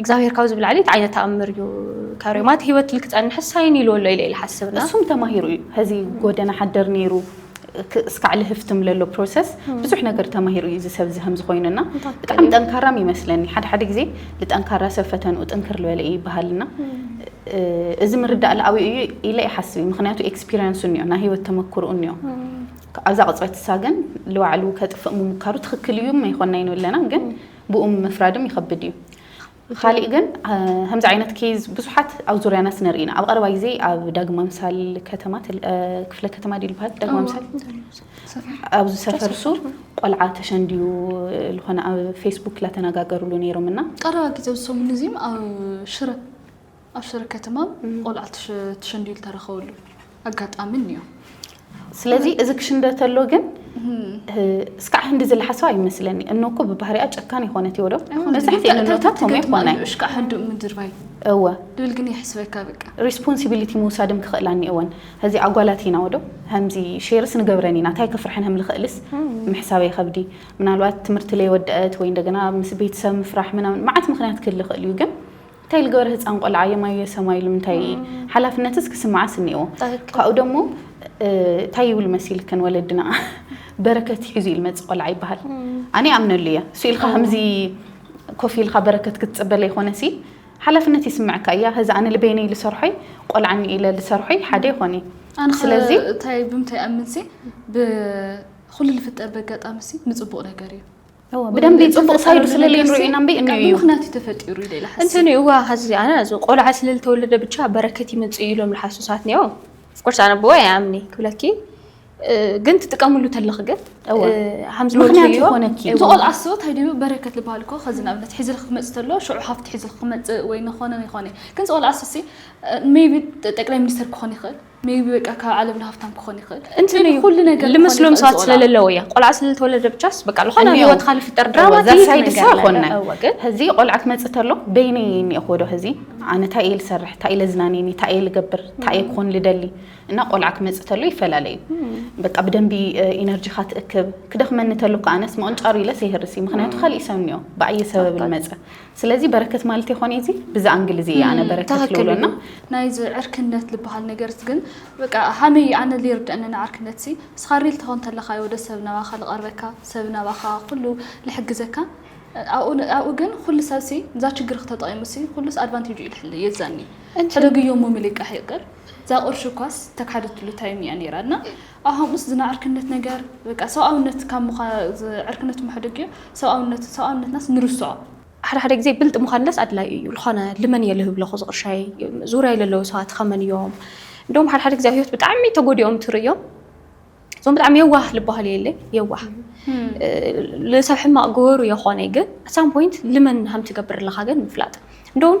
እግዚኣብሔር ካብዚ ብላዕሊ እንታይ ዓይነት ተኣምር እዩ ካሪዮም ኣቲ ህይወት እል ክጸንሕስ ሳይን ኢልዎ ኣሎ ኢለ ይሓስብ እና እሱም ተማሂሩ እዩ ሀዚ ጎደና ሓደር ነይሩ እስካዕ ልህፍትም ለሎ ፕሮሰስ ብዙሕ ነገር ተማሂሩ እዩ እዚ ሰብ እዚ ሀምዚ ኮይኑ እና ብጣዕሚ ጠንካራም ይመስለኒ ሓደ ሓደ ግዜ ልጠንካራ ሰብ ፈተንኡ ጥንክር ልበለ እዩ ይበሃል እና እዚ ምርዳእ ልኣቢኡ እዩ ኢለ ይሓስብ እዩ ምክንያቱ ኤክስፒሪንሱ እኒኦ ናይ ህይወት ተመክርኡ እኒኦ ኣብዛ ቅጽበት እሳ ግን ልባዕሉ ከጥፍእ ምሙካሩ ትክክል እዩ መይኮናይኑ ኣለና ግን ብኡ ምፍራድም ይኸብድ እዩ። ኻሊእ ግን ከምዚ ዓይነት ኬዝ ብዙሓት ኣብ ዙርያና ስነርኢ ኢና። ኣብ ቐረባ ግዜ ኣብ ዳግማ ምሳል ከተማ ክፍለ ከተማ ድዩ ዝበሃል ዳግማ ምሳል ኣብዚ ሰፈር ሱር ቆልዓ ተሸንድዩ ዝኾነ ኣብ ፌስቡክ ላተነጋገርሉ ነይሮም እና ቀረባ ግዜ ዝሰሙን እዚም ኣብ ሽረ ኣብ ሽረ ከተማ ቆልዓ ተሸንዲዩ ዝተረኸበሉ ኣጋጣሚ እኒኦ። ስለዚ እዚ ክሽንደ ተሎ ግን እስካዕ ህንዲ ዝለሓሰው ኣይመስለኒ እኖ እኮ ብባህሪኣ ጨካን ይኮነት ይወዶ መብዛሕትኡ እኖታት ከምኡ ይኮነ እሽካ ሕንዱ ምድርባይ እወ ድብል ግን ይሕስበካ በቃ ሪስፖንሲቢሊቲ ምውሳድም ክኽእላ እኒኦወን እዚ ኣጓላት ኢና ወዶ ከምዚ ሼርስ ንገብረን ኢና እንታይ ክፍርሐን ህም ልኽእልስ ምሕሳበ ይኸብዲ ምናልባት ትምህርቲ ለይወደአት ወይ እንደገና ምስ ቤተሰብ ምፍራሕ ምናምን መዓት ምክንያት ክህሊ ይኽእል እዩ ግን እንታይ ልገበር ህፃን ቆልዓ የማየ ሰማዩ ልምንታይ ሓላፍነትስ ክስምዓስ እኒኤዎ ካብኡ ደሞ እንታይ ይብሉ መሲልክን ወለድና በረከት ሒዙ እዩ ልመፅእ ቆልዓ ይበሃል ኣነ ይኣምነሉ እየ እሱ ኢልካ ከምዚ ኮፍ ኢልካ በረከት ክትፅበ ለይኮነሲ ሓላፍነት ይስምዐካ እያ ከዚ ኣነ ልበይነይ ልሰርሖይ ቆልዓ እኒኤ ኢለ ልሰርሖይ ሓደ ይኾን እዩ ኣነ ከ ስለዚ እንታይ ብምንታይ እኣምንሲ ብኩሉ ልፍጠር በጋጣሚሲ ንፅቡቅ ነገር እዩ ብደንቢ ፅቡቅ ሳይዱ ስለለይ ንሪኦ ኢና እምበይ እንዮ እዩ ብምክንያት እዩ ተፈጢሩ ኢለ ኢለ ሓስብ እንትን እዋ ኸዚ ኣነ እዚ ቆልዓ ስለ ዝተወለደ ብቻ በረከት ይመጽእ እዩ ኢሎም ልሓሱ ሰባት ኒኦ ፍኮርስ ኣነ ብወ ኣይኣምኒ ክብለኪ እ፣ ግን ትጥቀምሉ ተለኺ ግን እወ። እ፣ ሃም ዝበልኩ ምክንያት እዩ። ይኾነኪ እቲ ቆልዓ እሱ እንታይ ድዩ በረከት ዝበሃል እኮ ከዚ ንኣብነት ሒዝልኪ ክመፅእ ተሎ ሽዑ ሃፍቲ ሒዝልኪ ክመፅእ ወይ ንኾነ ይኾነ እዩ ግን እዚ ቆልዓ እሱሲ ሜቢ ጠቅላይ ሚኒስተር ክኾን ይኽእል ሜይቢ በቃ ካብ ዓለምና ሃፍታም ክኾን ይኽእል እንትን እዩ ኩሉ ነገር ልመስሎም ሰባት ስለለለዎ እያ ቆልዓ ስለተወለደ ብቻስ በቃ ዝኾነ ኣብ ህይወትካ ልፍጠር ድራማ ዘርሳይ ድሳ ኮነ ህዚ ቆልዓ ክመፅእ ተሎ በይነይ እኒኤኹ ዶ ህዚ ኣነ እንታይ እየ ልሰርሕ እንታይ ለዝናንየኒ እንታይ እየ ልገብር እንታይ እየ ክኾን ልደሊ እና ቆልዓ ክመፅእ ተሎ ይፈላለዩ በቃ ብደንቢ ኢነርጂኻ ትእክብ ክደኽመኒ ተሎ እኮ ኣነስ ምቕንጫሩ ኢለስ የህርስ እዩ ምክንያቱ ካሊእ ሰብ እኒኦ ብኣየ ሰበብ ልመፀ ስለዚ በረከት ማለት ይኾን እዚ ብዛ ኣንግል እዚ ኣነ በረከት ልብሎና ናይዚ ዕርክነት ልበሃል ነገርስ ግን በቃ ሃመይ ኣነ ልይርድአኒ ንዓርክነት ሲ እስኻ ሪል ተኾን ተለኻ ይወደ ሰብ ናባኻ ልቐርበካ ሰብ ናባኻ ኩሉ ልሕግዘካ ኣብኡ ግን ኩሉ ሰብ ሲ እዛ ችግር ክተጠቂሙ ሲ ኩሉስ ኣድቫንቴጁ እዩ ልሕል የዛኒ ሕደግዮ ሞሚ ልቃሕ ይቅር እዛ ቁርሽ እኳስ ተካሕደትሉ ታይም እያ ነይራ እና ኣብ ሃምኡስ ዝና ዕርክነት ነገር በቃ ሰብኣውነት ካብ ምዃ ዕርክነት እሞ ሕደግ እዩ ሰብኣውነት ሰብኣውነትናስ ንርስዖ። ሓደ ሓደ ግዜ ብልጥ ምዃንለስ ኣድላይ እዩ ልኾነ ልመን እየ ልህብ ለኹ ዝቕርሻይ ዙርያይ ለለዉ ሰባት ኸመን እዮም እንደውም ሓደ ሓደ ግዜ ኣብ ህይወት ብጣዕሚ ተጎዲኦም ትርእዮም እዞም ብጣዕሚ የዋህ ልበሃል እየ ለይ የዋህ ልሰብ ሕማቕ ግበሩ የኾነይ ግን ኣሳም ፖይንት ልመን ሃም ትገብር ለኻ ግን ምፍላጥ እንደውም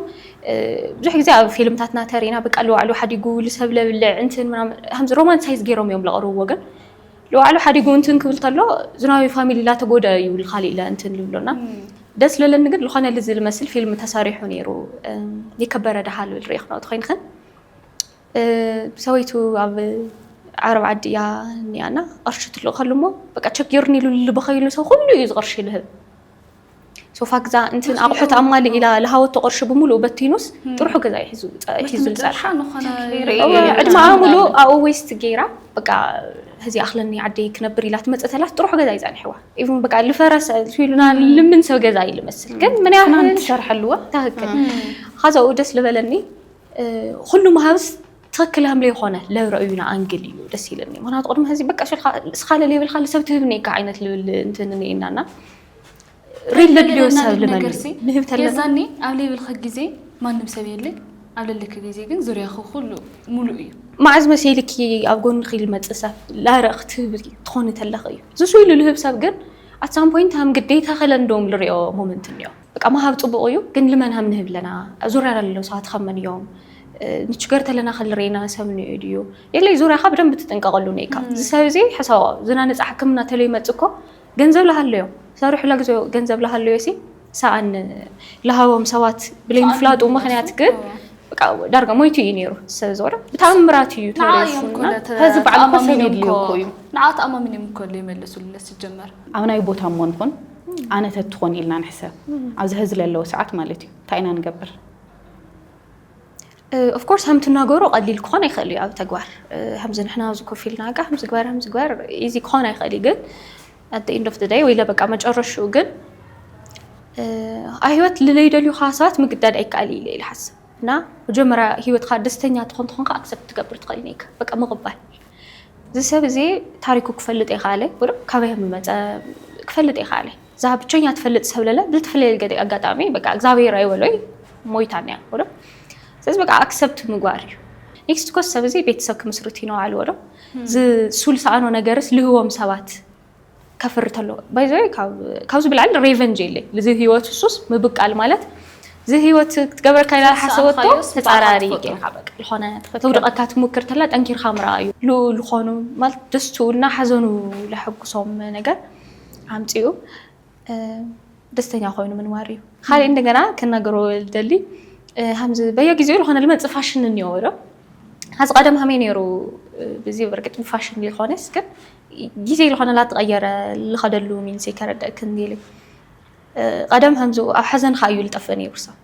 ብዙሕ ግዜ ኣብ ፊልምታትና ተሪና በቃ ልዋዕሉ ሓዲጉ ልሰብ ለብልዕ እንትን ምናምን ከምዚ ሮማንሳይዝ ገይሮም እዮም ለቕርብዎ ግን ልዋዕሉ ሓዲጉ እንትን ክብል ተሎ ዝናዊ ፋሚሊ ላተጎደ እዩ ልካሊእ ለ እንትን ልብሎና ደስ ለለኒ ግን ዝኾነ ልዚ ልመስል ፊልም ተሰሪሑ ነይሩ የከበረ ድሃ ልብል ርእ ክነኦት ኮይንክን ሰበይቱ ኣብ ዓረብ ዓዲ እያ እኒኣና ቐርሺ ትልእኸሉ እሞ በቃ ቸጊርኒ ኢሉ ልበኸይሉ ሰው ኩሉ እዩ ዝቕርሺ ልህብ ሶፋ ግዛ እንትን ኣቑሑት ኣማሊ ኢላ ልሃወቶ ቅርሺ ብምሉኡ በቲኑስ ጥርሑ ገዛ እዩ ሒዙ ሒዙ ዝፀንሓ መጨረሻ ንኾነ ርእየ እወ፣ የለን ዕድመኣ ዝብላለን። ሙሉእ ኣብኡ ዌስት ገይራ በቃ ህዚ ኣኽለኒ ዓደይ ክነብር ኢላ ትመፅእ ተላስ ጥርሑ ገዛ እዩ ፀኒሕዋ ኢቭን በቃ ልፈረሰ ኢሉና ልምን ሰብ ገዛ እዩ ልመስል ግን ምን ትናንት ያህል ትሰርሐልዋ ትክክል ሀዛኡ ደስ ልበለኒ እ፣ ኩሉ መሃብስ ትክክል ሃምለ ይኮነ ለረእዩና ኣንግል እዩ ደስ ይለኒ ምክንያቱ ቅድሚ ህዚ በቃ ሽልካ እስካ ለለይብልካ ልሰብ ትህብ እኒካ ዓይነት ልብል እንትን እኒኤና እና ሪል ልቢ ወሳብ ልመንሲ ንህብ ተለዛኒ ኣብ ሌብልኺ ግዜ ማንም ሰብ የለ ኣብ ልልኪ ግዜ ግን ዙርያኺ ኩሉ ሙሉእ እዩ መዓዝ መሲልኪ ኣብ ጎንኺ ልመፅእ ሰብ ላረ ክትህብ ትኾኒ ተለኺ እዩ ዝሱ ኢሉ ልህብ ሰብ ግን ኣት ሳም ፖይንት ሃም ግዴታ ከለንዶም ልሪኦ ሞመንት እኒኦ በቃ መሃብ ፅቡቕ እዩ ግን ልመን ሃም ንህብ ኣለና ዙርያ ላለው ሰባት ኸመን እዮም ንችገር ተለና ከልሬና ሰብ ንዮ ድዩ የለይ ዙርያኻ ብደንብ ትጥንቀቐሉ ነይካ ዝሰብ እዚ ሕሳዋ ዝናነፃ ሕክምና ተለይ መፅእ እኮ ገንዘብ ላሃለዮ ሰሩሑ ለግዝኦ ገንዘብ ላሃለዮ ሲ ሳኣን ላሃቦም ሰባት ብለይ ምፍላጡ ምክንያት ግን ዳርጋ ሞይቱ እዩ ነይሩ ሰብ ዝወረ ብተኣምራት እዩ ተረፉዚ በዓል እኮ ሰብ የድልዮ እኮ እዩ ንዓ ተኣማሚኖም እኮ ዘይመለሱለ ሲጀመር ኣብ ናይ ቦታ እሞ ንኹን ኣነ ተትኾን ኢልና ንሕሰብ ኣብዚ ሀዚ ለለዎ ሰዓት ማለት እዩ እንታይ ኢና ንገብር ኦፍኮርስ ከም ትናገሮ ቀሊል ክኾን ኣይክእል እዩ ኣብ ተግባር ከምዚ ንሕና ኣብዚ ኮፍ ኢልና ቃ ከምዚ ግበር ከምዚ ግበር ኢዚ ክኾን ኣይክእል እዩ ግን ኣደ ኢንድ ኦፍ ደይ ወይለ በቃ መጨረሽኡ ግን ኣብ ህይወት ልለይደልዩካ ሰባት ምግዳድ ኣይከኣል እዩ ኢለ ይሓስብ እና መጀመርያ ህይወትካ ደስተኛ ትኾን ትኾንካ ኣክሰፕት ትገብር ትኽእል ነይካ በቃ ምቕባል እዚ ሰብ እዚ ታሪኩ ክፈልጥ የኸኣለ ወይ ካበይ ከም ዝመፀ ክፈልጥ የኸኣለ እዛ ብቸኛ ትፈልጥ ሰብ ለለ ብዝተፈለየ ገደ ኣጋጣሚ በቃ እግዚኣብሔር ኣይበሎይ ሞይታን እያ ወዶ ስለዚ በቃ ኣክሰብት ምግባር እዩ ኔክስት ኮስ ሰብ እዚ ቤተሰብ ክምስርት እዩ ነዋል ወዶ ዝሱል ሰኣኖ ነገርስ ልህቦም ሰባት ከፍሪ ተሎ ባይዘ ካብዚ ብላዕሊ ሬቨንጅ የለይ እዚ ህይወት ሱስ ምብቃል ማለት እዚ ህይወት ክትገብረካ ኢላ ሓሰበቶ ተፃራሪ ጌርካ በቃ ዝኾነ ተውድቐካ ትሙክር ተላ ጠንኪርካ ምርኣ እዩ ዝኾኑ ማለት ደስቱ እና ሓዘኑ ለሐጉሶም ነገር ኣምፂኡ ደስተኛ ኮይኑ ምንባር እዩ። ካሊእ እንደገና ክናገሮ ዝደሊ ከምዚ በየጊዜኡ ዝኾነ ልመፅእ ፋሽን እኒኦ ዶ ሀዚ ቀደም ከመይ ነይሩ ብዚ ብርግጥ ብፋሽን ሊኾነስ ግን ጊዜ ዝኾነ ላተቐየረ ልኸደሉ ሚንስ ከረደእክን ጌሊ ቀደም ከምዚ ኣብ ሐዘንኻ እዩ ልጠፍእ ነይሩ ሰብ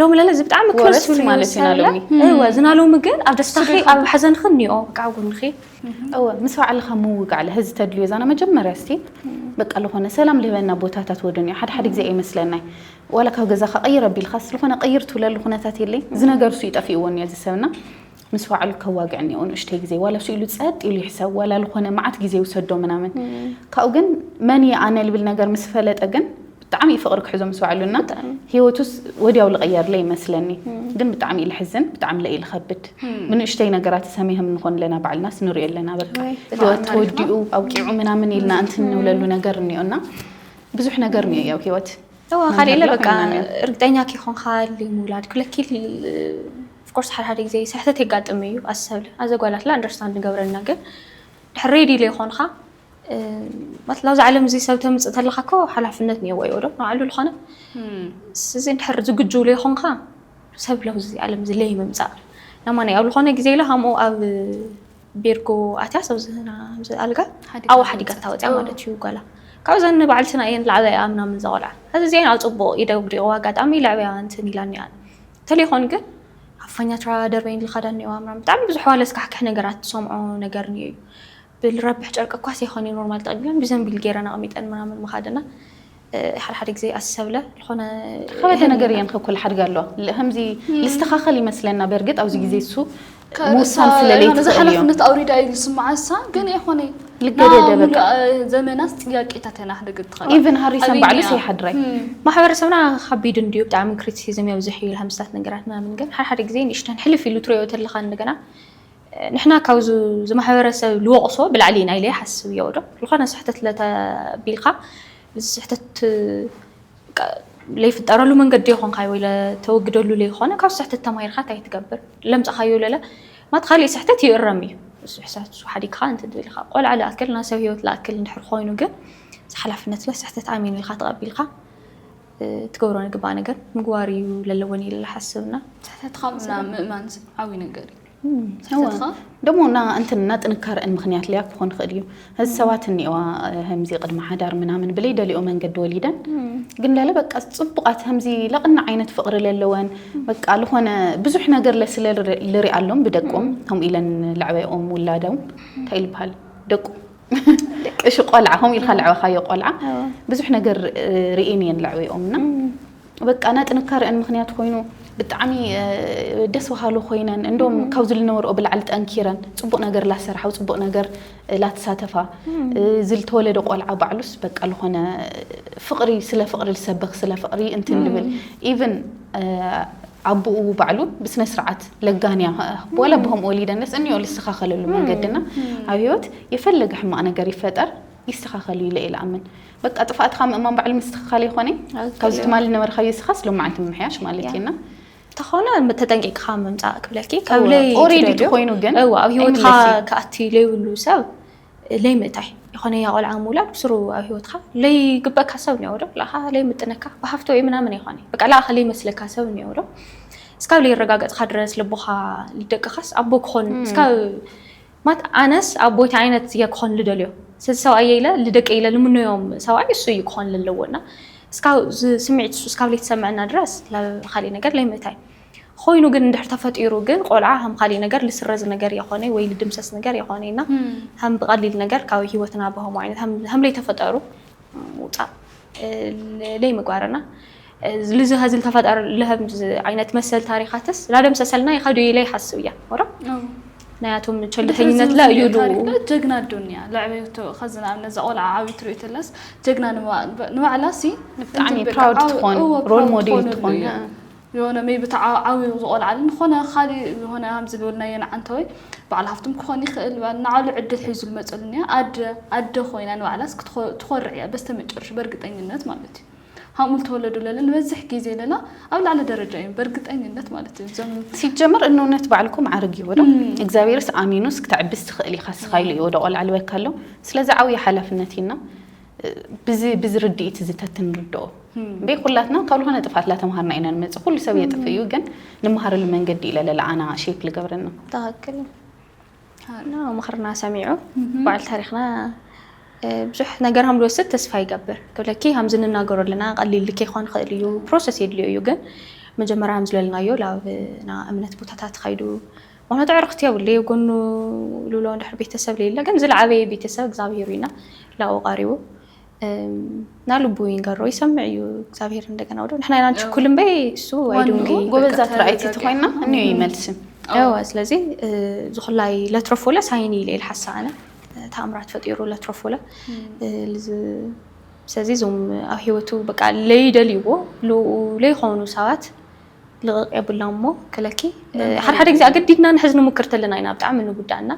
ሎሚ ለለ እዚ ብጣዕሚ ክረስ ይብሉ ማለት እዩ ናሎሚ እወ ዝናሎሚ ግን ኣብ ደስታኺ ኣብ ሓዘንኺ እኒኦ በቃ ኣብ ጎንኺ እወ ምስ ባዕልኻ ምውጋዕ ለህ እዚ ተድልዮ ዛና መጀመርያ እስቲ በቃ ዝኾነ ሰላም ልህበና ቦታታት ወደን እዩ ሓደ ሓደ ግዜ ኣይመስለናይ ዋላ ካብ ገዛኻ ቀይር ኣቢልኻስ ዝኾነ ቀይር ትብለሉ ኩነታት የለይ እዚ ነገር እሱ ይጠፊእዎ እኒኦ እዚ ሰብና ምስ ባዕሉ ከዋግዕ እኒኦ ንእሽተይ ግዜ ዋላ እሱ ኢሉ ጸጥ ኢሉ ይሕሰብ ዋላ ልኾነ መዓት ግዜ ይውሰዶ ምናምን ካብኡ ግን መን እየ ኣነ ልብል ነገር ምስ ፈለጠ ግን ብጣዕሚ እዩ ፍቕሪ ክሕዞ ምስ ባዕሉ እና ህይወቱስ ወዲያው ልቐየርለ ይመስለኒ ግን ብጣዕሚ እዩ ልሕዝን ብጣዕሚ ለእዩ ልኸብድ ብንእሽተይ ነገራት ሰሚህም ንኾን ኣለና ባዕልናስ ንሪኦ ኣለና በቃ ህይወት ተወዲኡ ኣብቂዑ ምናምን ኢልና እንቲ ንብለሉ ነገር እኒኦ እና ብዙሕ ነገር እኒኦ ያው ህይወት ካልእ ኢለ በቃ እርግጠኛ ከይኮንካ ምውላድ ክለኪል Of course ሓደ ሓደ ግዜ ስሕተት የጋጥም እዩ ኣዚ ሰብለ ኣዘ ጓል ኣትለ understand ንገብረልና ግን ድሕር ready ለይኮንካ ማለት ናብዚ ዓለም እዚ ሰብ ተምጽእ ተለካ እኮ ሓላፍነት ኔዎ ዶ ንባዕሉ ልኮነ ስዚ ድሕር ዝግጁ ለይኮንካ ሰብ ለብዚ ዓለም እዚ ለይምምጻእ ናማናይ ኣብ ልኮነ ግዜ ኢለ ሃምኡ ኣብ ቤርጎ ኣትያ ሰብ ዝህና ዚ ኣልጋ ኣው ሓዲጋ ታወጽያ ማለት እዩ ጓላ ካብ ዘን ንባዕልትና እየን ላዕበያ ምናምን ዘቆልዓ ኣዚ እዚኣን ኣብ ጽቡቅ ኢደ ውዲቅዋ ኣጋጣሚ ለዕበያ እንትን ኢላኒ ኣነ ተሌኾን ግን ኣፋኛ ትራ ደርበይን ልኻዳ እኒኦ ኣምራም ብጣዕሚ ብዙሕ ዋለ ስካሕክሕ ነገራት ትሰምዖ ነገር እኒኦ እዩ ብልረብሕ ጨርቂ እኳ ሰይኮን ኖርማል ተቐቢለን ብዘንቢል ገይረን ኣቐሚጠን ምናምን ምኻደና ሓደ ሓደ ግዜ ኣሰብለ ዝኾነ ከበደ ነገር እየን ከኩል ሓድጋ ኣለዋ ከምዚ ልስተኻኸል ይመስለና በርግጥ ኣብዚ ግዜ እሱ ምውሳን ስለ ለይትኽእል እዮም። ሓላፍነት ኣውሪዳ እዩ ዝስምዓ እሳ ግን ይኾነ ዘመናስ ጥያቄታት ኢና ክነግር ትኽእል ኢቨን ሃሪሰን ባዕሉስ ይሓድራይ ማሕበረሰብና ከቢድ እንድዩ ብጣዕሚ ክሪቲሲዝም የብዝሕ እዩ ሃምስታት ነገራት ምናምን ግን ሓደ ሓደ ግዜ ንእሽተን ሕልፍ ኢሉ ትሪኦ ተለካ እንደገና ንሕና ካብ ዝማሕበረሰብ ልወቕሶ ብላዕሊ ኢና ኢለ ይሓስብ እዮ ዶ ዝኾነ ስሕተት ለተቢልካ ስሕተት ለይፍጠረሉ መንገዲ የኾንካዮ ለተወግደሉ ለይኾነ ካብ ስሕተት ተማሂርካ ታይ ትገብር ለምፀኻዮ ለለ ማለት ኻሊእ ስሕተት ይእረም እዩ ስሕተት ሓዲግኻ እንትን ትብል ኢኻ ቆልዓ ልኣክል ናይ ሰብ ህይወት ልኣክል እንድሕር ኾይኑ ግን ሓላፍነት ለስሕተት ኣሚን ኢልካ ተቐቢልካ ትገብሮ ንግባእ ነገር ምግባር እዩ ለለወኒ ኢለ ልሓስብ እና ስሕተትኻ ምእማን ዓብይ ነገር እዩ። ደሞ እና እንትን እና ጥንካረ እን ምክንያት ሊያ ክኾን ክእል እዩ እዚ ሰባት እኒዋ ህምዚ ቅድሚ ሓዳር ምናምን ብለይ ደሊኦ መንገዲ ወሊደን ግን ለለ በቃ ጽቡቃት ህምዚ ለቕና ዓይነት ፍቕሪ ለለወን በቃ ልኾነ ብዙሕ ነገር ለስለ ልሪ ኣሎም ብደቆም ከምኡ ኢለን ለዕበኦም ውላደው እንታይ ልበሃል ደቁ እሺ ቆልዓ ከምኡ ኢልካ ለዕበኻዮ ቆልዓ ብዙሕ ነገር ርኤን እየን ለዕበኦም እና በቃ ናይ ጥንካረአን ምክንያት ኮይኑ ብጣዕሚ ደስ በሃሉ ኮይነን እንዶም ካብዚ ዝነበርኦ ብላዕሊ ጠንኪረን ፅቡቅ ነገር ላሰራሓው ፅቡቅ ነገር ላተሳተፋ ዝልተወለደ ቆልዓ ባዕሉስ በቃ ልኾነ ፍቅሪ ስለ ፍቅሪ ልሰብኽ ስለ ፍቅሪ እንትን ልብል ኢቭን ኣቦኡ ባዕሉ ብስነ ስርዓት ለጋንያ ዋላ ብኸምኡ ወሊደንስ እኒኦ ልስተኻኸለሉ መንገድና ኣብ ህይወት የፈለገ ሕማቅ ነገር ይፈጠር ይስተኻኸል እዩ ኢለ ኢለ ኣምን በቃ ጥፍኣትካ ምእማን ባዕሉ ምስትኽኻል ይኾነ ካብዚ ትማሊ ነበርካዮ ስኻስ ሎም መዓልቲ ምምሕያሽ ማለት እዩ እና ተኾነ ተጠንቂቅካ ምምፃእ ክብለኪ ከብለይ ኦሬዲ ትኾይኑ ግን እዋ ኣብ ሂወትካ ከኣቲ ለይብሉ ሰብ ለይምእታይ ይኾነ ያ ቆልዓ ምውላድ ብስሩ ኣብ ሂወትካ ለይግበካ ሰብ እኒኦ ዶ ለኻ ለይምጥነካ ብሃፍቶ ወይ ምናምን ይኾነ በቃ ለኣኻ ለይመስለካ ሰብ እኒኦ ዶ እስካብ ለይረጋገፅካ ድረስ ልቦኻ ልደቅኻስ ኣቦ ክኾን እስካብ ማት ኣነስ ኣቦይ ታይ ዓይነት እየ ክኮን ልደልዮ ሰዚ ሰብኣየይ ኢለ ልደቀይ ኢለ ልምኖዮም ሰብኣይ እሱ እዩ ክኮን ለለዎ እና እስካብ እዚ ስሚዒት እሱ እስካብ ለይተሰመዐና ድረስ ላካሊእ ነገር ለይምእታይ ኾይኑ ግን እንድሕር ተፈጢሩ ግን ቆልዓ ሃም ካሊእ ነገር ልስረዝ ነገር የኮነይ ወይ ልድምሰስ ነገር የኮነይ እና ሃም ብቀሊል ነገር ካብ ህይወትና ብሀሙ ዓይነት ሃም ለይተፈጠሩ ምውጻእ ለይ ምግባር እና ልዚ ሀዝል ተፈጠር ለህም ዓይነት መሰል ታሪካትስ ላደም ሰሰልና ይኸዱ ይለይ ሀስብ እያ ወራ ናያቶም ቸልተኝነት ላ እዩ ጀግና ኣዶንያ ለዕበይቶ ከዚ ንኣብነት እዛ ቆልዓ ዓብዩ ትሪኦ ተለስ ጀግና ንባዕላ ሲ ብጣዕሚ ፕራውድ ትኾን ሮል ሞዴል ትኾን የሆነ ሜይቢ እቲ ዓብዩ ዝቆልዓልን ዝኾነ ካሊእ ዝኾነ ሃምዚ ዝበልናዮ ንዓንተወይ በዓል ሃፍቶም ክኾን ይኽእል በል ንዓሉ ዕድል ሒዙ ዝመጸሉን እያ ኣደ ኣደ ኮይና ንባዕላስ ክትኾ ትኾርዕ እያ በስተመጨረሽ በርግጠኝነት ማለት እዩ ሃምኡ ልተወለዱ ለለ ንበዝሕ ጊዜ ለላ ኣብ ላዕሊ ደረጃ እዮም በርግጠኝነት ማለት እዩ እዞም ሲጀመር እንውነት ባዕልኩም ዓርግ እዩ ወዶ እግዚኣብሔርስ ኣሚኑስ ክተዕብስ ትኽእል ኢኻ ስኻ ኢሉ እዩ ወደ ቆልዓ ልበካ ኣሎ ስለዚ ዓብዩ ሓላፍነት እዩና ብዚ ርድኢት እዚ ተትንርድኦ እምበይ ኩላትና ካብ ዝኾነ ጥፍኣት ላተምሃርና ኢና ንመፅእ ኩሉ ሰብ የጥፍእ እዩ ግን ንመሃረሉ መንገዲ ኢለ ለለ ኣና ሼፕ ልገብረና ትክክል እዩ ምኽርና ሰሚዑ በዓል ታሪክና ብዙሕ ነገር ሃም ዝወስድ ተስፋ ይገብር ክብለኪ ሃምዚ ንናገሮ ኣለና ቀሊል ከይኳን ይኽእል እዩ ፕሮሰስ የድልዮ እዩ ግን መጀመርያ ሃም ዝለልናዮ ላብና እምነት ቦታ ተትኸይዱ ምክንያቱ ኣዕርክቲ የብሉ እየ ጎኑ ልብሎ እንድሕር ቤተሰብ ለይለ ግን ዝለዓበየ ቤተሰብ እግዚኣብሄር እዩ እና ላኡ ቃሪቡ እና ልቡ ይንገሮ ይሰምዕ እዩ እግዚኣብሄር እንደገና ወደ ንሕና ኢና ንችኩል እምበይ እሱ ኣይድንገይ ጎበዛት ራእይቲ ትኮይና እኒዮ ይመልስም ያዋ ስለዚ ዝኩላይ ለትረፎለ ሳይኒ ኢለ ኢል ሓሳ ኣነ ተኣምራት ፈጢሩ ለትረፎለ ስለዚ እዞም ኣብ ሂወቱ በቃ ለይደልይዎ ለይኮኑ ሰባት ልቕቕ የብላን እሞ ክለኪ ሓደ ሓደ ግዜ ኣገዲድና ንሕዝ ንሙክር ተለና ኢና ብጣዕሚ ንጉዳእና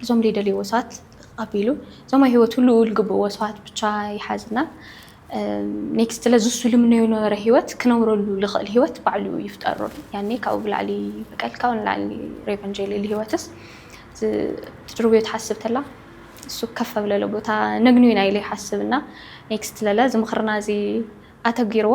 እዞም ዘይደልይዎ ሰባት ልቕቕ ኣቢሉ እዞም ኣብ ሂወት ህልው ዝግብእዎ ሰባት ብቻ ይሓዝና ኔክስት ለዚ እሱ ልምነዮ ዝነበረ ሂወት ክነብረሉ ልኽእል ሂወት ባዕሉ ይፍጠረሉ ያኔ ካብኡ ብላዕሊ በቀል ካብኡ ንላዕሊ ሬቨንጅ የልኢሉ ሂወትስ ትድርብዮ ትሓስብ ተላ እሱ ከፍ ኣብለለ ቦታ ነግንዩ ኢና ኢለ ይሓስብ እና ኔክስት ለለ እዚ ምኽርና እዚ ኣተጊርዎ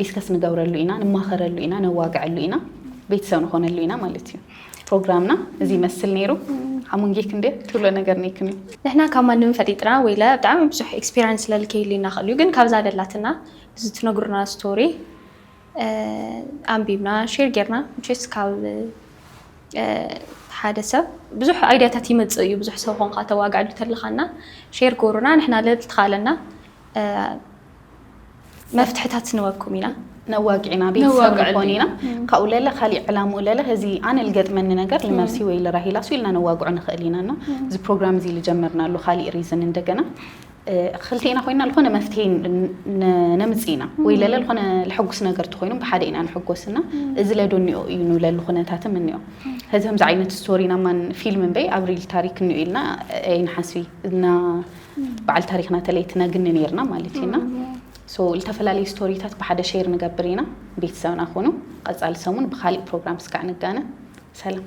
ዲስከስ ንገብረሉ ኢና፣ ንማኸረሉ ኢና፣ ነዋግዐሉ ኢና፣ ቤተሰብ ንኾነሉ ኢና ማለት እዩ። ፕሮግራምና እዚ ይመስል ነይሩ። ሓሙንጌ ክንዴ ትብሎ ነገር ነይክም እዩ። ንሕና ካብ ማንም ፈጢጥና ወይለ ብጣዕሚ ብዙሕ ኤክስፒሪንስ ስለልከይሉ ኢና ክእል እዩ ግን ካብዛ ደላትና እዚ ትነግሩና ስቶሪ ኣንቢብና ሼር ጌርና ምቸስ ካብ ሓደ ሰብ ብዙሕ ኣይዲያታት ይመፅእ እዩ ብዙሕ ሰብ ኮንካ ተዋግዐሉ ተለኻና ሼር ጎሩና ንሕና ልዕልቲ ካለና መፍትሕታት ንወኩም ኢና ነዋግዒና ቤተሰብ ንኾን ኢና ካብኡ ለለ ካሊእ ዕላሙ ለለ እዚ ኣነ ልገጥመኒ ነገር ልመርሲ ወይ ልራሂላ ሱ ኢልና ነዋግዑ ንኽእል ኢና እና እዚ ፕሮግራም እዚ ልጀመርናሉ ካሊእ ሪዝን እንደገና ክልቴና ኮይና ዝኾነ መፍትሄ ነምፅ ኢና ወይ ለለ ዝኾነ ልሐጉስ ነገር ትኾይኑ ብሓደ ኢና ንሕጎስ እና እዚ ለዶኒኦ እዩ ንብለሉ ኩነታትም እኒኦ እዚ ከምዚ ዓይነት ስቶሪ ናማን ፊልም እምበይ ኣብ ሪል ታሪክ እኒኦ ኢልና ኣይንሓስቢ እና በዓል ታሪክና ተለይትና ግኒ ነይርና ማለት እዩ እና ሶ ዝተፈላለዩ ስቶሪታት ብሓደ ሼር ንገብር ኢና ቤተሰብና ኮኑ ቀፃሊ ሰሙን ብካሊእ ፕሮግራም ስካዕ ንጋነ ሰላም